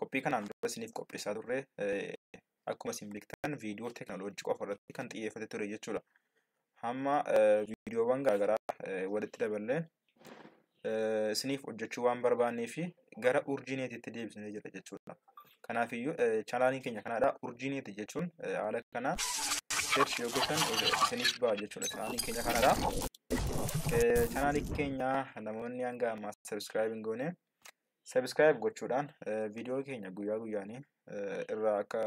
Qophii kanaan dura isiniif qopheessaa turre akkuma isin beektan viidiyoo teekinooloojii qofa irratti kan xiyyeeffate ture jechuudha. Hamma viidiyoowwan garaagaraa walitti daballee isiniif hojjechuu waan barbaannee fi gara urjiineetiitti deebisnee jira jechuudha. Kanaafiyyuu chaanaaliin keenya kanaadha. Urjiineeti jechuun haala kana search yoo gootan isiniif ba'a jechuudha. Chaanaaliin keenya kanaadha. Chaanaalii keenya namoonni hanga ammaa sabiskiraayib hin goone Subscribe gochuudhaan viidiyoo keenya guyyaa guyyaanii irraa akka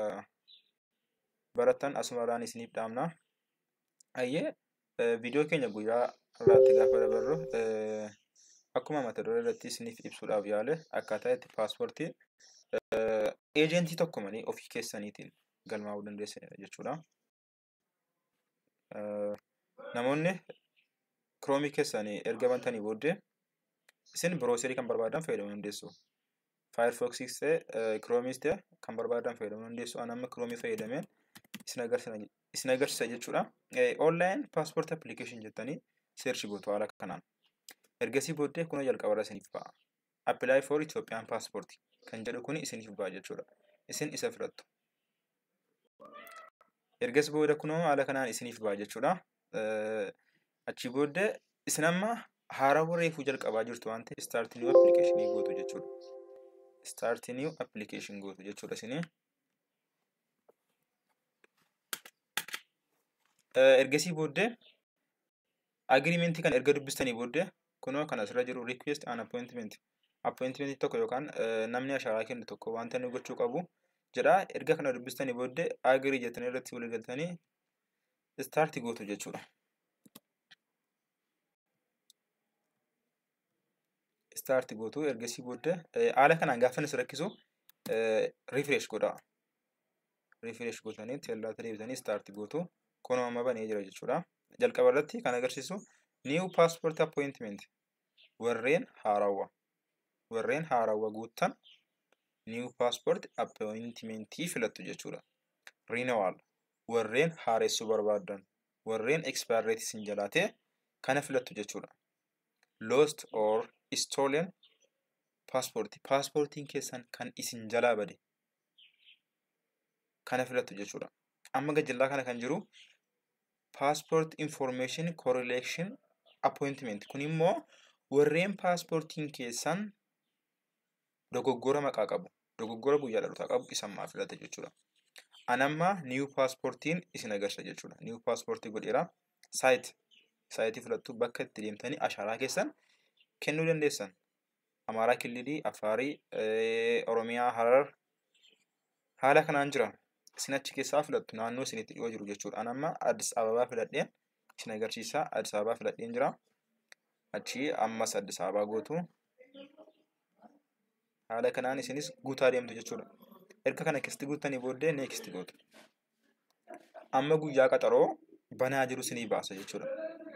barattan asumarraan isiniif dhaamna. Ayyee viidiyoo keenya guyyaa irraatti gaafa dabarru akkuma mata duree irratti isiniif ibsuudhaaf yaale akkaataa itti paaspoortii eejentii tokko malee ofii keessaniitiin galmaa'uu dandeessanidha jechuudha. namoonni kiroomii keessaan erga bantanii booddee isin birooserii kan barbaadan fayyadamuu dandeessu. Firefoxis ta'e kiroomis ta'e kan barbaadan fayyadamuu dandeessu. Ani amma kiroomii fayyadameen isin agarsiisa jechuudha. Online passport application jettanii search gootu haala kanaan. Ergasii booddee kuna jalqabarra isiniif ba'a. Apply for Ethiopian passport kan jedhu kun isiniif ba'a jechuudha. Isin isa filattu. Ergas booda kunoo haala kanaan isiniif ba'a jechuudha. Achii booda isin amma haarawwa reefuu jalqabaa jirtu waan ta'eef start new application gootu jechuudha. Start new application gootu jechuudha isinii. Ergasii booddee Agreement kan erga dubbistanii booddee kunoo kan asirra jiru request an appointment. Appointment tokko yookaan namni ashaaraa kennu tokko wanta inni gochuu qabu jedha. Erga kana dubbistanii booddee agree jettanii irratti walii galtanii start gootu jechuudha. start gootu ergasii booda haala kanaan gaafa isin rakkisu refresh godha refresh gootanii tellaatti deebitanii start gootu kun amma banee jira jechuudha jalqaba irratti kan agarsiisu new passport appointment warreen haarawwa warreen haarawwa guuttan new passport appointment filattu jechuudha renewal warreen haaressuu barbaadan warreen expire isin jalaatee kana filattu jechuudha lost or stolen passport paaspoortiin keessan kan isin jalaa bade kana filattu jechuudha amma gajjallaa kana kan jiru passport information correlation appointment kun immoo warreen paaspoortiin keessan dogoggora maqaa qabu, dogoggora guyyaa dhalootaa qabu isa ammaa filate jechuudha. An amma new paaspoortiin isin agarsiisa jechuudha. New paaspoortii godheera. Saayit saayitii filattu bakka itti deemtanii ashaaraa keessan kennuu dandeessan. Amaaraa Killilii, Afaarii, eh, Oromiyaa, Harar haala kanaan jira. Isin achi keessaa filattu naannoo isinitti dhiyoo jiru jechuudha. An amma Addis Ababaa filadheen isin agarsiisa. Addis Ababaa filadheen jira. Achi ammas Addis Ababaa gootu. haala kanaan isinis guutaa deemtu jechuudha erga kana keessatti guuttanii booddee next gootu amma guyyaa qaxaroo banaa jiru isinii baasa jechuudha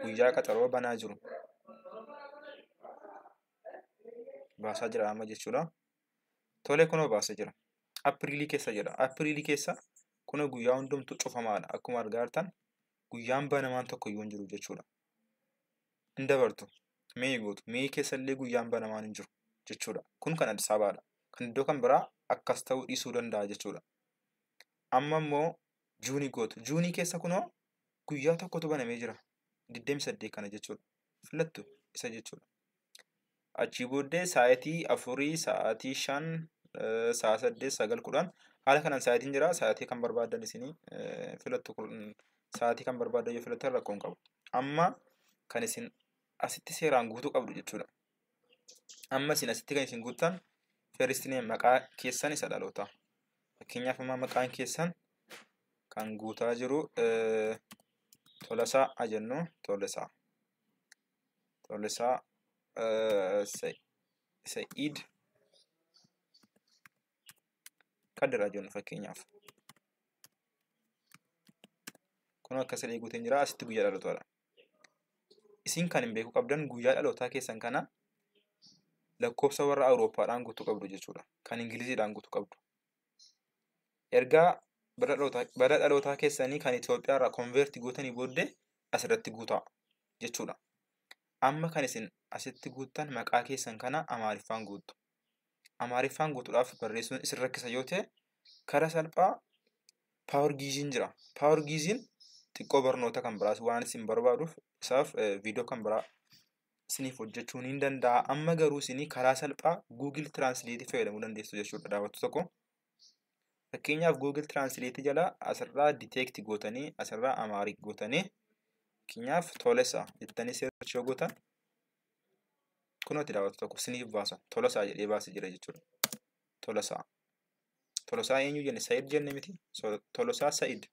guyyaa qaxaroo banaa jiru baasaa jira amma jechuudha tole kunoo baasa jira apiriilii keessa jedha apiriilii keessa kunoo guyyaa hundumtu cufamaadha akkuma argaa jirtan guyyaan banamaan tokko iyyuu hin jiru jechuudha hin dabartu mee gootu mee keessallee guyyaan banamaan hin jiru jechuudha kun kan Addis Ababaadha kan iddoo kan biraa akkas ta'uu dhiisuu danda'a jechuudha amma immoo juunii gootu juunii keessa kunoo guyyaa tokkotu banamee jira 28 kana jechuudha filattu isa jechuudha Achii booddee sa'aatii afurii, sa'aatii shan, sa'a saddeet, sagal, kudhan haala kanaan sa'aatiin jira. Sa'aatii kan barbaaddan isin filattu sa'aatii kan barbaaddan yoo filattan rakkoo hin qabu. Amma kan isin asitti seeraan guutuu qabdu jechuudha. Amma isin asitti kan isin guuttan first name maqaa keessan isa dhalootaa. Fakkeenyaaf amma maqaan keessan kan guutaa jiru Tolasaa haa jennu Tolasaa. Tolisaa Sa'iid Kadiraa jennu fakkeenyaaf. Kun akka sadii guuteen jira asitti guyyaa dhalootaadha. Isin kan hin beeku qabdan guyyaa dhalootaa keessan kana lakkoofsa warra Awurooppaadhaan guutuu qabdu jechuudha. Kan Ingiliziidhaan guutuu qabdu. ergaa bara dhalootaa bara dhalootaa keessanii kan Itoophiyaa irraa konveerti gootanii booddee asirratti guutaa jechuudha. Amma kan isin asitti guuttan maqaa keessan kana Amaariffaan guuttu. Amaariffaan guutuudhaaf barreessuun isin rakkisa yoo ta'e kara salphaa paawar giiziin jira. Paawar giiziin xiqqoo barnoota kan biraas waan isin barbaaduuf isaaf viidiyoo kan biraa isiniif hojjechuun hin danda'a. Amma garuu isinii karaa salphaa Google Translate fayyadamuu dandeessu jechuudha daawwattu tokko. Fakkeenyaaf Google Translate jala asirraa detect gootanii asirraa Amaarik gootanii fakkeenyaaf Tolesa jettanii search yoo gootan kunooti daawwattu tokko isiniif baasa. Tolosaa jedhee baasee jira jechuudha. Tolosaa. Tolosaa eenyu jenne Sa'id jenne miti. Tolosaa Sa'id.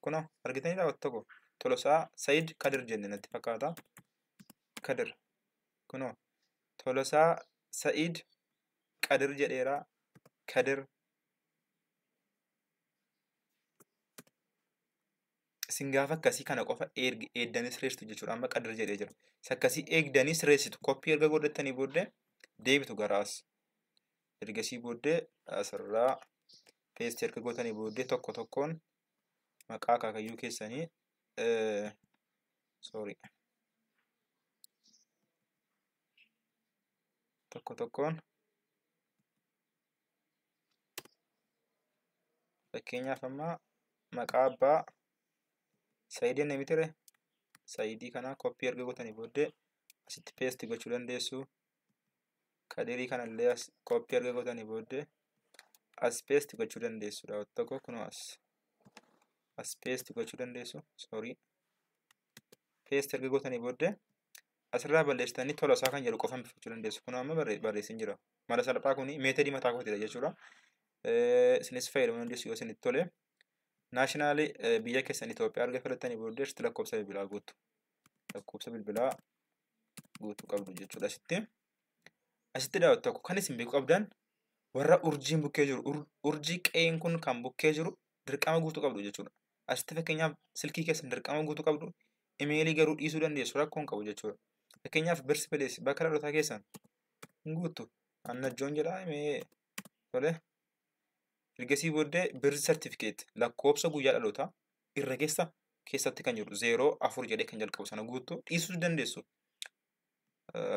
Kunoo argitaniidha wanta tokko Tolosaa Sayid Kadir jenne natti fakkaata. Kadir kunoo Tolosaa Sayid Kadir jedheera. Kadir isin gaafa akkasii kana qofa eegdanii sirreessitu jechuudha. Amma Kadir jedhee jira. Isa akkasii eegdanii sirreessitu koppii erga godhattanii booddee deebitu garaas. ergasii booddee asirraa peestii erga gootanii booddee tokko tokkoon maqaa akaakayyuu keessanii sorry tokko tokkoon fakkeenyaaf amma maqaa abbaa saayidii inni mitire saayidii kana koppii erga gootanii booddee asitti peesti gochuu dandeessu kadirii kanallee as koppii erga gootanii booddee as paste gochuu dandeessu daawwattoota tokko kunoo as as paste gochuu dandeessu sorry paste erga gootanii booddee asirraa balleessitanii tola isaa kan jedhu qofa hambifachuu dandeessu kunoo amma barreessin jira mala salphaa kuni meetadii mataa kootidha jechuudha isinis fayyadamuu dandeessu yoo isinitti tole naashinaali biyya keessan Itoophiyaa erga filattanii booddee irratti lakkoofsa bilbilaa guutu lakkoofsa bilbilaa guutuu qabdu jechuudha asitti. Asitti daawwatu tokko kan isin beekuu qabdan warra urjiin bukkee jiru ur- urjii qe'een kun kan bukkee jiru dirqama guutuu qabdu jechuudha. Asitti fakkeenyaaf silkii keessan dirqama guutuu qabdu imeelii garuu dhiisuu dandeessu rakkoo hin qabu jechuudha. Fakkeenyaaf birsi pilees bakka dhalotaa keessan hin guuttu annajjoon jedhaa imee tole. Ergasii booddee birsi sartifikeet lakkoofsa guyyaa dhalotaa irra keessa keessatti kan jedhu zeeroo afur jedhee kan jalqabu sana guuttu dhiisuu dandeessu.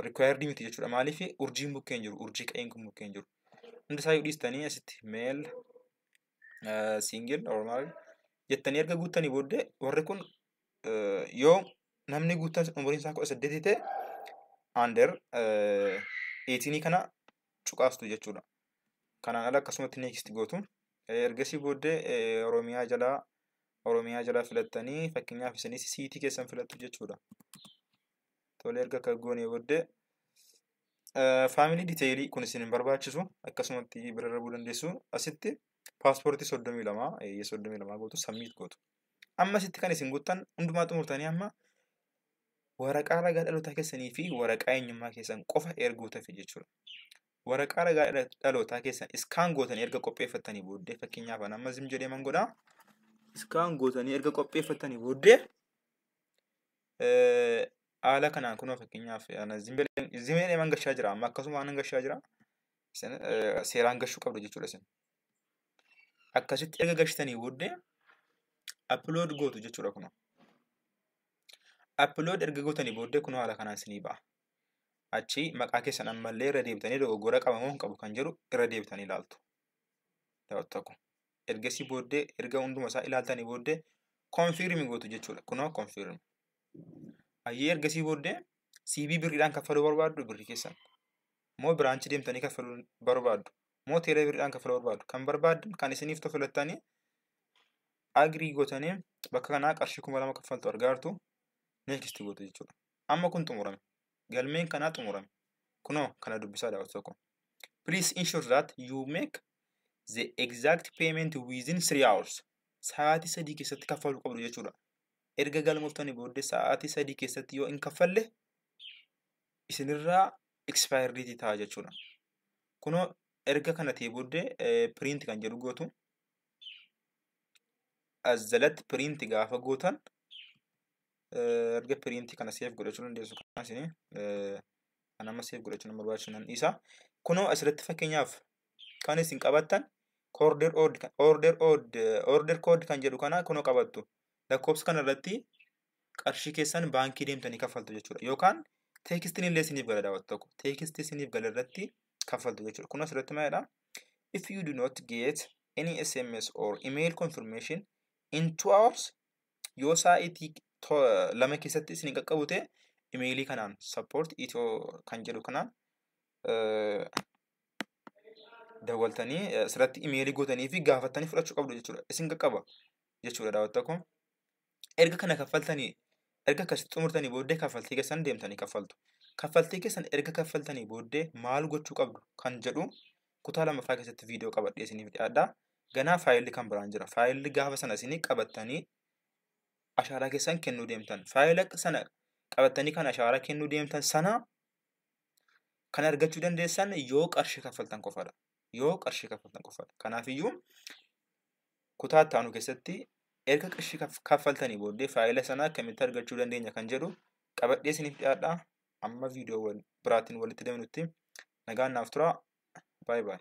Rikwaayirdii miti jechuudha. Maaliif urjiin bukkeen jiru urjii qa'een kun bukkeen jiru. Hundi isaa yoo dhiistanii asitti meel siingil normaal jettanii erga guuttanii booddee warri kun yoo namni guuttan umuriin isaa kudha saddeetii ta'e under eetinii kana cuqaastu jechuudha. Kanaan ala akkasumatti next gootu. Ergasii booddee Oromiyaa jalaa Oromiyaa jalaa filattanii fakkeenyaaf isinis siitii keessan filattu jechuudha. Tole erga akka goonee booddee faamilii diteelii kun isin hin barbaachisu akkasumatti bira darbuu dandeessu asitti paaspoortii soddomii lama eeyyee soddomii lama gootu sammiit gootu. Amma asitti kan isin guuttan hundumaa xumurtanii amma Waraqaa ragaa dhalootaa keessanii fi waraqaa eenyummaa keessan qofa ergootafi jechuudha. Waraqaa ragaa dhala- dhalootaa keessan iskaan gootanii erga qopheeffattanii booddee fakkeenyaaf an amma zim jedhee man godha. Iskaan gootanii erga qopheeffattanii booddee eh, haala kanaan kunoo fakkeenyaaf ana zim jedhee- zim jedhee man gashaa jira amma akkasuma anan gashaa jira. Isin, eh, Seeraan gashuu qabdu jechuudha isin. Akkasitti erga gashitanii booddee upload gootu jechuudha kunoo. Upload erga gootanii booddee kunoo haala kanaan isinii ba'a. Achi maqaa keessan ammallee irra deebitanii dogoggora qaba moo hin qabu kan jedhu irra deebitanii ilaaltu. Daawwattu akkuma. Ergasii booddee erga hunduma isaa ilaaltanii booddee confirm gootu jechuudha. Kunoo confirm. Ayyee ergasii booddee CV birriidhaan kaffaluu barbaaddu birrii keessan. Moo biraanchi deemtanii kaffaluu barbaaddu moo teeleebiriidhaan kafala barbaadu kan barbaaddan kan isiniif tofilattanii agrii gootanii bakka kanaa qarshii kuma lama kaffaltu argaartu neekisti gootu jechuudha. Amma kun xumurame. Galmeen kanaa xumurame. Kunoo kana dubbisaa daawwatu tokko. Please ensure that you make the exact payment within three hours. Sa'aatii sadii keessatti kaffaluu qabdu jechuudha. Erga galmooftanii booddee sa'aatii sadii keessatti yoo hin kaffalle isinirraa expire date ta'a jechuudha. Kunoo erga kana ta'e booddee print kan jedhu gootu. As jalatti print gaafa gootan erga print kana seef godhachuu dandeessu kanas kan amma seef godhachuu nama barbaachisu nan dhiisa. Kunoo asirratti fakkeenyaaf kan isin qabattan order odd order odd order code kan jedhu kana kunoo qabattu lakkoofsa kana irratti qarshii keessan baankii deemtanii kaffaltu jechuudha. Yookaan teekistiin illee isiniif gala daawwatu tokko. Teekistii isiniif gala irratti kaffaltu jechuudha. Kun asirratti maalidha? If you do not get any SMS or email confirmation in two hours yoo saa'itii lama keessatti isin qaqqabu ta'e imeelii kanaan support itoo kan jedhu kanaan dawwaltanii asirratti imeelii gootanii fi gaafattanii fudhachuu qabdu jechuudha. Isin qaqqaba jechuudha daawwatta kun. erga kana kaffaltanii erga akkasitti xumurtanii booddee kaffaltii keessan deemtanii kaffaltu. Kaffaltii keessan erga kaffaltanii booddee maal gochuu qabdu kan jedhu kutaa lammaffaa keessatti viidiyoo qabadhee isiniif dhiyaadha. Ganaa faayilli kan biraan jira. Faayilli gaafa sana isinii qabattanii ashaaraa keessan kennuu deemtan. Faayila sana qabattanii kan ashaaraa kennuu deemtan sana kan argachuu dandeessan yoo qarshii kaffaltan qofadha. yoo qarshii kaffaltan qofadha. Kanaafiyyuu kutaa itti aanu keessatti erga qarshii kaff- kaffaltanii booddee faayila sana akkamitti argachuu dandeenya kan jedhu qabadhee isiniif dhiyaadha. Amma viidiyoo wal- biraatiin walitti deemnutti nagaan naaf tura. Baay baay.